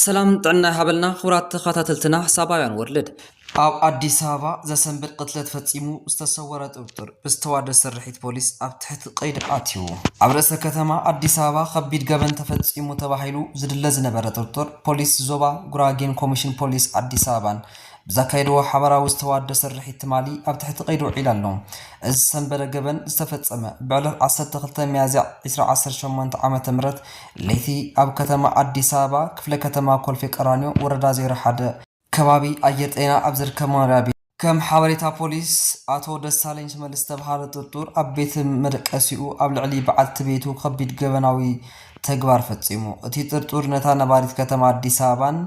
ሰላም ጥዕና ይሃበልና ክቡራት ተኸታተልትና ሳባውያን ወርልድ ኣብ ኣዲስ ኣበባ ዘሰንብድ ቅትለት ፈፂሙ ዝተሰወረ ጥርጡር ብዝተዋደ ስርሒት ፖሊስ ኣብ ትሕቲ ቀይዲ ኣትዩ። ኣብ ርእሰ ከተማ ኣዲስ ኣበባ ከቢድ ገበን ተፈፂሙ ተባሂሉ ዝድለ ዝነበረ ጥርጡር ፖሊስ ዞባ ጉራጌን ኮሚሽን ፖሊስ ኣዲስ ኣበባን ብዘካየድዎ ሓባራዊ ዝተዋደድ ስርሒት ትማሊ ኣብ ትሕቲ ቀይዲ ውዒሉ ኣሎ። እዚ ዝሰንበደ ገበን ዝተፈጸመ ብዕለት ዓሰርተ ክልተ ሚያዝያ ዕስራ ዓሰርተ ሸሞንተ ዓመተ ምህረት ለይቲ ኣብ ከተማ ኣዲስ ኣበባ ክፍለ ከተማ ኮልፌ ቀራኒዮ ወረዳ ዜሮ ሓደ ከባቢ ኣየር ጤና ኣብ ዝርከብ መኖሪያ ቤት እዩ። ከም ሓበሬታ ፖሊስ ኣቶ ደሳለኝ ሽመልስ ዝተብሃለ ጥርጡር ኣብ ቤት መደቀሲኡ ኣብ ልዕሊ በዓልቲ ቤቱ ከቢድ ገበናዊ ተግባር ፈፂሙ። እቲ ጥርጡር ነታ ነባሪት ከተማ ኣዲስ ኣበባን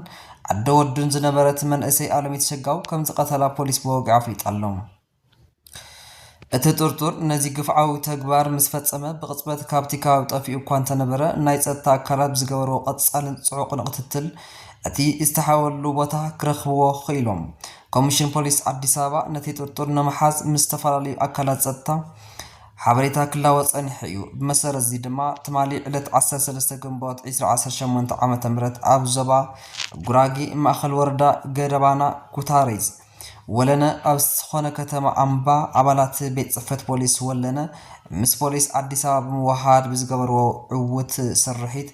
ዓደ ወዱን ዝነበረት መንእሰይ ኣለሚት ሰጋው ከምዝቐተላ ፖሊስ ብወግዒ ኣፍሊጡ ኣሎ። እቲ ጥርጡር ነዚ ግፍዓዊ ተግባር ምስ ፈፀመ ብቕፅበት ካብቲ ከባቢ ጠፊኡ እኳ እንተነበረ ናይ ፀጥታ ኣካላት ብዝገበርዎ ቐፃልን ፅዑቕን ቕትትል እቲ ዝተሓበኣሉ ቦታ ክረኽብዎ ኽኢሎም። ኮሚሽን ፖሊስ ኣዲስ ኣበባ ነቲ ጥርጡር ንምሓዝ ምስ ዝተፈላለዩ ኣካላት ፀጥታ ሓበሬታ ክላወጥ ጸኒሑ እዩ። ብመሰረት'ዚ ድማ ትማሊ ዕለት ዓሰርተ ሰለስተ ግንቦት ዕስራ ዓሰርተ ሸሞንተ ዓመተ ምህረት ኣብ ዞባ ጉራጌ ማእኸል ወረዳ ገደባና ኩታሪዝ ወለነ ኣብ ዝኾነ ከተማ ኣምባ ኣባላት ቤት ፅፈት ፖሊስ ወለነ ምስ ፖሊስ ኣዲስ ኣበባ ብምውሃድ ብዝገበርዎ ዕውት ስርሒት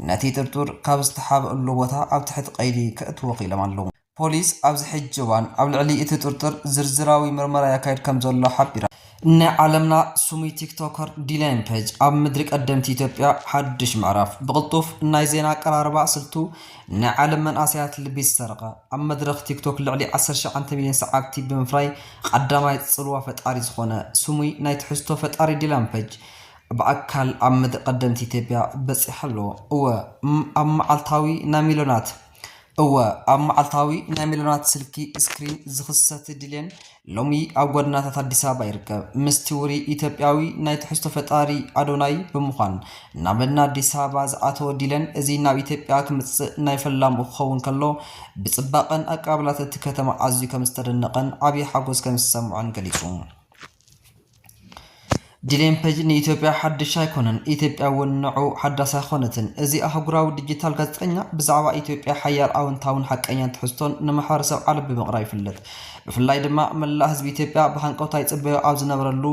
ነቲ ጥርጡር ካብ ዝተሓበእሉ ቦታ ኣብ ትሕቲ ቀይዲ ከእትዎ ክኢሎም ኣለዉ። ፖሊስ ኣብዚ ሕጂ እዋን ኣብ ልዕሊ እቲ ጥርጡር ዝርዝራዊ ምርመራ የካይድ ከምዘሎ ሓቢራ። ናይ ዓለምና ስሙይ ቲክቶከር ዲላይን ፐጅ ኣብ ምድሪ ቀደምቲ ኢትዮጵያ ሓዱሽ ምዕራፍ። ብቕልጡፍ ናይ ዜና ኣቀራርባ ስልቱ ናይ ዓለም መንእሰያት ልቢ ዝሰረቐ፣ ኣብ መድረኽ ቲክቶክ ልዕሊ ዓሰርተ ሸውዓተ ሚልዮን ሰዓብቲ ብምፍራይ ቐዳማይ ጽልዋ ፈጣሪ ዝኾነ ስሙይ ናይ ትሕዝቶ ፈጣሪ ዲላን ፐጅ ብኣካል ኣብ ምድሪ ቀደምቲ ኢትዮጵያ በጺሑ ኣሎ። እወ እም ኣብ መዓልታዊ ናይ ሚልዮናት እወ፣ ኣብ መዓልታዊ ናይ ሚልዮናት ስልኪ ስክሪን ዝኽሰት ድሌን ሎሚ ኣብ ጎደናታት ኣዲስ ኣበባ ይርከብ። ምስቲ ውሩይ ኢትዮጵያዊ ናይ ትሕዝቶ ፈጣሪ ኣዶናይ ብምዃን ናብ መዲና ኣዲስ ኣበባ ዝኣተወ ዲለን እዚ ናብ ኢትዮጵያ ክምጽእ ናይ ፈላሙ ክኸውን ከሎ ብጽባቐን ኣቀባብላት እቲ ከተማ ኣዝዩ ከም ዝተደነቐን ዓብዪ ሓጎስ ከም ዝሰምዖን ገሊጹ። ዲሌምፐጅ ንኢትዮጵያ ሓድሽ ኣይኮነን፣ ኢትዮጵያ እውን ንዑ ሓዳስ ኣይኮነትን። እዚ ኣህጉራዊ ዲጂታል ጋዜጠኛ ብዛዕባ ኢትዮጵያ ሓያል ኣወንታውን ሓቀኛን ትሕዝቶን ንማሕበረሰብ ዓለም ብምቕራብ ይፍለጥ። ብፍላይ ድማ መላእ ህዝቢ ኢትዮጵያ ብሃንቀውታ ይጽበዮ ኣብ ዝነበረሉ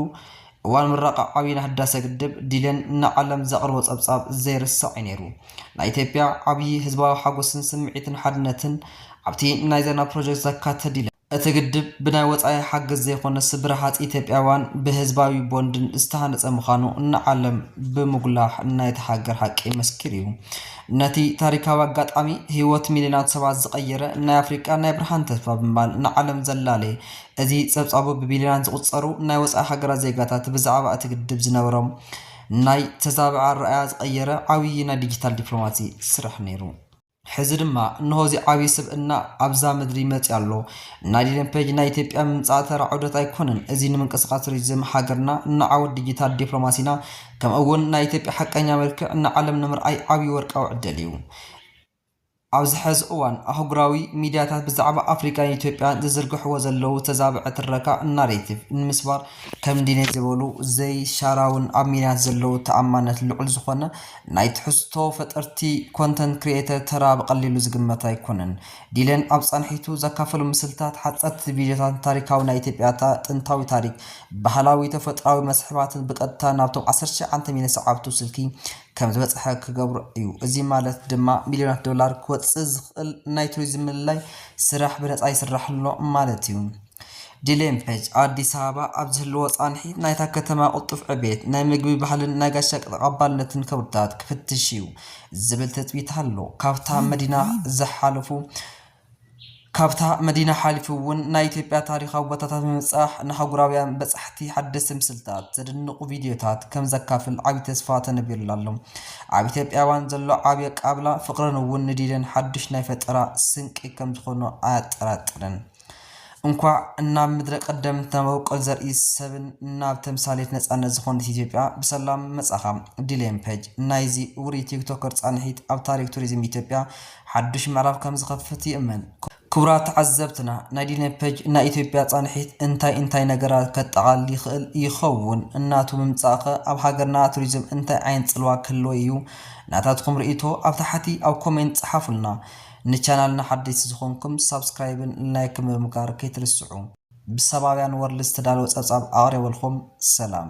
እዋን ምረቓ ዓብዪ ናይ ህዳሰ ግድብ ዲሌን ንዓለም ዘቕርቦ ጸብጻብ ዘይርሳዕ እዩ ነይሩ። ናይ ኢትዮጵያ ዓብዪ ህዝባዊ ሓጎስን ስምዒትን ሓድነትን ኣብቲ ናይ ዜና ፕሮጀክት ዘካተተ ዲሌን። እቲ ግድብ ብናይ ወፃኢ ሓገዝ ዘይኮነስ ብረሃፅ ኢትዮጵያውያን ብህዝባዊ ቦንድን ዝተሃነፀ ምዃኑ ንዓለም ብምጉላሕ ናይታ ሃገር ሓቂ መስኪሩ እዩ። ነቲ ታሪካዊ ኣጋጣሚ ህይወት ሚልዮናት ሰባት ዝቐየረ ናይ ኣፍሪቃ ናይ ብርሃን ተስፋ ብምባል ንዓለም ዘላለየ እዚ ፀብፃቡ ብቢልዮናት ዝቑፀሩ ናይ ወፃኢ ሃገራት ዜጋታት ብዛዕባ እቲ ግድብ ዝነበሮም ናይ ተዛበዐ ኣረኣእያ ዝቐየረ ዓብዪ ናይ ዲጂታል ዲፕሎማሲ ስራሕ ነይሩ። ሕዚ ድማ እንሆ እዚ ዓብይ ስብእና ኣብዛ ምድሪ መፅዩ ኣሎ። ናይ ዲለን ፔጅ ናይ ኢትዮጵያ ምምፃእ ተራ ዑደት ኣይኮነን። እዚ ንምንቅስቓስ ቱሪዝም ሃገርና፣ ንዓወት ዲጂታል ዲፕሎማሲና ከምኡ እውን ናይ ኢትዮጵያ ሓቀኛ መልክዕ ንዓለም ንምርኣይ ዓብይ ወርቃዊ ዕድል እዩ። ኣብዚ ሐዚ እዋን ኣህጉራዊ ሚዲያታት ብዛዕባ ኣፍሪካን ኢትዮጵያን ዝዝርግሕዎ ዘለዉ ተዛብዐ ትረካ ናሬቲቭ ንምስባር ከም ዲኔት ዝበሉ ዘይሻራውን ኣብ ሚዲያታት ዘለዉ ተኣማንነት ልዑል ዝኾነ ናይ ትሕዝቶ ፈጠርቲ፣ ኮንተንት ክሪኤተር፣ ተራ ብቐሊሉ ዝግመት ኣይኮነን። ዲለን ኣብ ፃንሒቱ ዘካፈሎም ምስልታት፣ ሓፀርቲ ቪድዮታትን ታሪካዊ ናይ ኢትዮጵያ ጥንታዊ ታሪክ፣ ባህላዊ ተፈጥሮኣዊ መስሕባትን ብቀጥታ ናብቶም ዓሰርተ ትሽዓተ ሚልዮን ሰዓብቱ ስልኪ ከምዝበፅሐ ክገብሮ እዩ። እዚ ማለት ድማ ሚልዮናት ዶላር ክወፅእ ዝኽእል ናይ ቱሪዝም ምልላይ ስራሕ ብነፃ ይስራሕ ኣሎ ማለት እዩ። ዲሌ ምሕጅ ኣዲስ ኣበባ ኣብ ዝህልዎ ፃንሒት ናይታ ከተማ ቅልጡፍ ዕቤት ናይ ምግቢ ባህልን ናይ ጋሻ ተቐባልነትን ከውርታት ክፍትሽ እዩ ዝብል ትፅቢት ኣሎ። ካብታ መዲና ዝሓለፉ ካብታ መዲና ሓሊፉ እውን ናይ ኢትዮጵያ ታሪኻዊ ቦታታት ብምብፃሕ ንሃጉራውያን በፃሕቲ ሓደስቲ ምስልታት ዘድንቑ ቪድዮታት ከም ዘካፍል ዓብዪ ተስፋ ተነቢሩሉ ኣሎ። ኣብ ኢትዮጵያውያን ዘሎ ዓብዪ ኣቀባብላ ፍቕርን እውን ንዲለን ሓዱሽ ናይ ፈጠራ ስንቂ ከም ዝኾኖ ኣያጠራጥርን። እንኳዕ ናብ ምድረ ቀደምት ናብ ኣብቆል ዘርኢ ሰብን ናብ ተምሳሌት ነፃነት ዝኾነት ኢትዮጵያ ብሰላም መፃኻ። ዲሌም ፐጅ ናይዚ ውሩይ ቲክቶከር ፃንሒት ኣብ ታሪክ ቱሪዝም ኢትዮጵያ ሓዱሽ ምዕራፍ ከምዝኸፍት ይእመን። ክቡራት ተዓዘብትና ናይ ዲሌም ፐጅ ናይ ኢትዮጵያ ፃንሒት እንታይ እንታይ ነገራት ከጠቓልል ይኽእል ይኸውን? እናቱ ምምፃእ ከ ኣብ ሃገርና ቱሪዝም እንታይ ዓይነት ፅልዋ ክህልዎ እዩ? ናታትኹም ርኢቶ ኣብ ታሕቲ ኣብ ኮሜንት ፀሓፉልና። ንቻናልና ሓደይቲ ዝኾንኩም ሳብስክራይብን ላይክን ብምግባር ከይትርስዑ። ብሰባውያን ወርልድ ዝተዳለወ ጸብጻብ ኣቕሪበልኩም ሰላም።